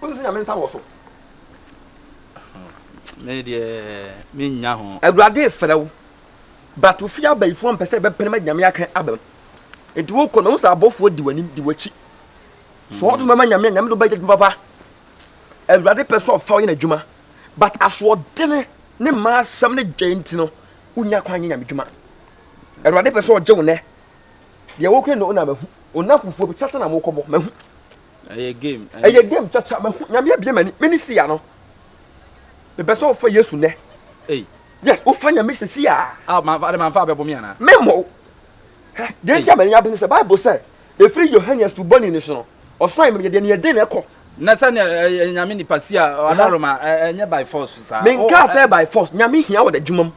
Wonim sɛ Nyame nsa wɔ so. Me deɛ mennya ho. Awurade refrɛ wo, but wo fie abayifoɔ mpɛ sɛ ɛbɛpene ma Nyame aka aba mu. Nti wokɔ no wohu sɛ abɔfoɔ di w'anim, di w'akyi. Sɛ ɔdom bɛma Nyame a, Nyame de wobɛyɛ adwuma papa. Awurade pɛ sɛ ɔfa wo yɛ n'adwuma, but asoɔdene ne mmaa asɛm ne dwɛɛ nti no, wonnya kwan nyɛ Nyame adwuma. Awurade pɛ sɛ ɔgye wo nnɛ. Deɛ wokura no na mahu, wo nna fufuo bi, kyakya na mokɔbɔ, mahu. Ɛyɛ game. Ɛyɛ game kyakya. Mahu nyame abie m'ani. Me ne siya no. Mepɛ sɛ wofa Yesu nɛ. Ei. Yes, wofa nyame sɛ siya. Ah, ma fa de ma fa abɛbo me ana. Me mo. Hɛ, deɛ nti amani abene sɛ Bible sɛ ɛfiri Yohane asubɔni ne so no. Ɔsɔre me yɛ deɛ ne yɛ den na ɛkɔ. Na sɛ ne ɛyɛ nyame nipa siya adaroma ɛnyɛ by force saa. Me nka sɛ by force. Nyame hia wɔ da dwuma mu.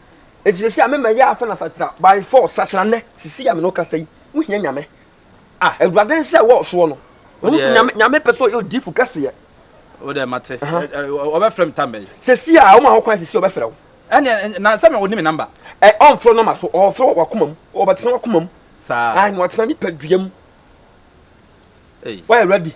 Enti sɛ siya me mɛ yɛ afa na fatra by force sakyera nɛ. Sisi ya me no kasa yi. Wohia nyame. Ah, Awurade nsa ɛwɔ ɔsoɔ no. Wohu sɛ Nyame, Nyame pɛ sɛ ɔyɛ odiifo kɛseɛ. Wo dɛ mate. Ɔbɛfrɛ me tambɛ yi. Sɛsi a ɔma ho kwan sɛsi ɔbɛfrɛ wo. Ɛne na sɛ me ɔni me number. Ɛ ɔmfrɛ wo number so, ɔfrɛ wɔ wakoma mu. Ɔbɛtena wakoma mu. Saa. Ae na watena nipa dua mu. Ei. Woayɛ ready.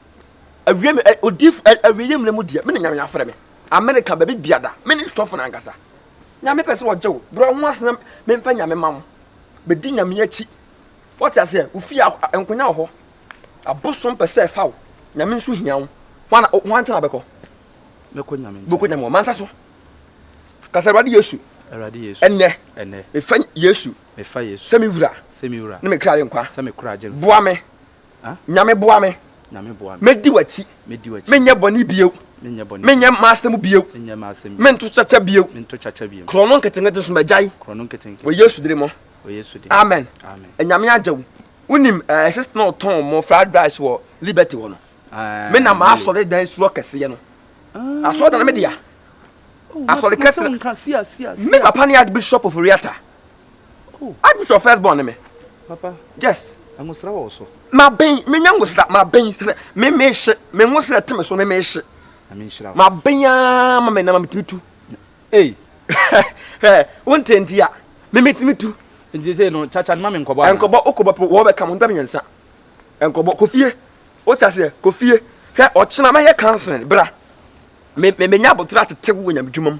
Awiem, ɛ, odiyifo, ɛ, awieeɛ mmerɛ mu deɛ, me na Nyame afrɛ me. Amerika, baabi biada, me ne sɔfo no ankasa. Nyame pɛ sɛ ɔgye wo. Brɛ wo ho ase na memfa Nyame ma wo. Bɛdi Nyame akyi. Woate aseɛ? Wo fie, a, nkonya wɔ hɔ. Abosom pɛ sɛ ɛfa wo. Nyame nso hia wo. Hwan na, hwan nkyɛn na wobɛkɔ? Mɛkɔ Nyame nkyɛn. Bɛkɔ Nyame wɔ mansa so. Ka sɛ, Awurade Yesu. Awurade Yesu. Ɛnnɛ. Ɛnnɛ. Mefa Yesu. Mefa Yesu. Sɛ me Wura. Sɛ me Wura. Ne me kra agyenkwa. Sɛ me kra agyenkwa. Boa me. Nyame boa me mɛdi w'akyi menyɛ bɔne bio menyɛ mma asɛm bio mento kyakya bio korɔ no nketenkete so magyae wɔ Yesu dere mu amen Nyame agya wo wonim eh, sister na ɔtɔn mo fried rice wɔ Liberty hɔ no me na maasɔre dan suo kɛseɛ no ah. asɔre dan no medea oh, asɔre kɛseɛ me papa ne Archbishop of Oriata Oh. Archbishop first born me. Papa. Yes. Ngosra wɔ so. Ma ben, me nya ngosra, ma ben sɛ me me hye, me ngosra te me so me me hye. Na me nhyira. Ma ben ya ma me na ma me tumi tu. Ei. Eh, wonte nti ya. Me me tumi tu. Nti sɛ no chacha no ma me nkɔbɔ ana. Nkɔbɔ okɔbɔ pɛ wɔ bɛ ka mo nda mmiɛnsa. Nkɔbɔ kofie. O ti aseɛ kofie. Hwɛ ɔkyena mɛyɛ counseling bra. Me me nya abotra tete wo nyame dwuma mu.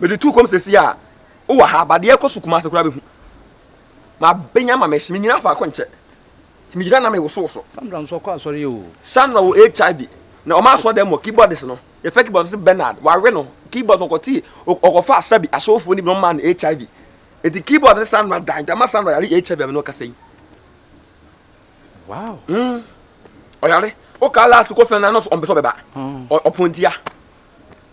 Mede tu kɔm sɛsi a wo wɔ ha ba deɛ ɛkɔ so Kumase koraa bɛhu ma bɛnya ma mɛhye me nyina faako nkyɛ ti me gyina na me woso woso. Sandra nso ɔkɔ asɔre o. Sandra wɔ HIV na ɔma asɔ dɛm wɔ keyboardist no yɛfɛ keyboardist se Bernard wawe no keyboardist no ɔkɔte ɔkɔ fa asabi asɔfoɔ no bi na ɔmaa no HIV eti keyboard ne Sandra dan dama Sandra yare HIV a me ne wo kasa yi. Wow. Mm. Ɔyare. Woka last kɔ fɛn na nɔs ɔmpɛ sɛ ɔbɛba. Ɔpɔntia.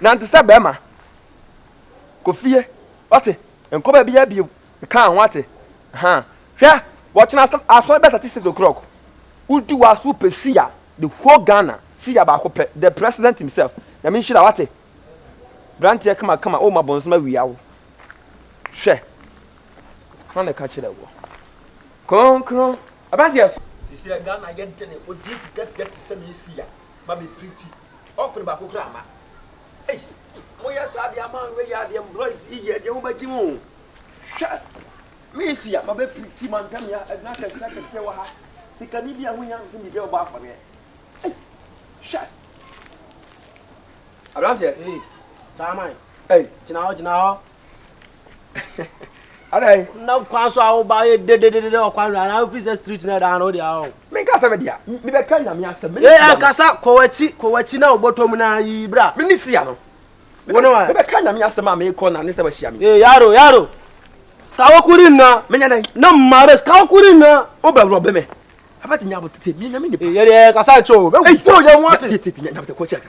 Nante sɛ barima. Kɔ fie, wate? Nkɔ baabiara bio. Mekaa ho, wate? Ahaa. Hwɛ, wɔkyena asɔre, asɔre bɛsa te six o'clock. Wodi w'aso wopɛ suya, the whole Ghana, suya baako pɛ, the president himself. Nyame nhyira wo, wate? Branteɛ kamakama, oh, ma bɔnsam awia wo. Hwɛ. Hwan na ɛka kyerɛɛ woɔ? Kronkron. Abranteɛ. Sisi Ghana yɛ dene, wodi efi kɛseɛ te sɛ me suya, ma me preachi. Ɔfn baako koraa mma. Ei mo yɛ saa deɛ ama wei yɛ adeɛ boys yi yɛ deɛ mo bɛ gye mo hwɛ me si ya ma bɛ piriti ma ntɛm ya ɛdina kɛseɛ akɛseɛ wɔ ha sikani bi a ho nya nso biribi a ɔbɔ afɔreɛ ei hwɛ aberanteɛ ei saa man ei gyina hɔ gyina hɔ adai. na kwan so a woba yɛ dededede ɔkwan no anaa wofi sɛ street no ɛdaa no wode awo. menka sɛ medeɛ a mebɛka nyame asɛm mene sia no. ɛnkasa kɔ wakyi kɔ wakyi na wobɔtɔ mu na yi bra. mene sia no. wone wa. mebɛka nyame asɛm a meekɔ na ne sɛ wahyia me. ee yaro yaro kawokuri nna. menya dɛn. na mares kawokuri nna. wobɛworɔ bɛ me abɛte nya abotete menya me nipa. yɛdeɛ kasa nkyɛ o bɛwuo yɛ ho ate. tete nya abotete kɔ kyɛ ka.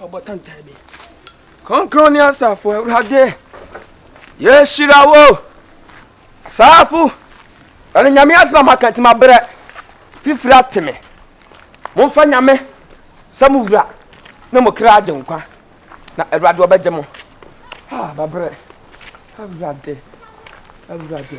Ɔbɔ tantan bi. Kronkron ne asafo Awurade, yɛhyira wo. Asafo, ɛne nyame asɛm a maka nti mabrɛ. Fifiri ate me. Momfa nyame sɛ mo wura ne mo kra agye nkwa. Na Awurade ɔbɛgye mo. Ha, mabrɛ. Awurade, Awurade.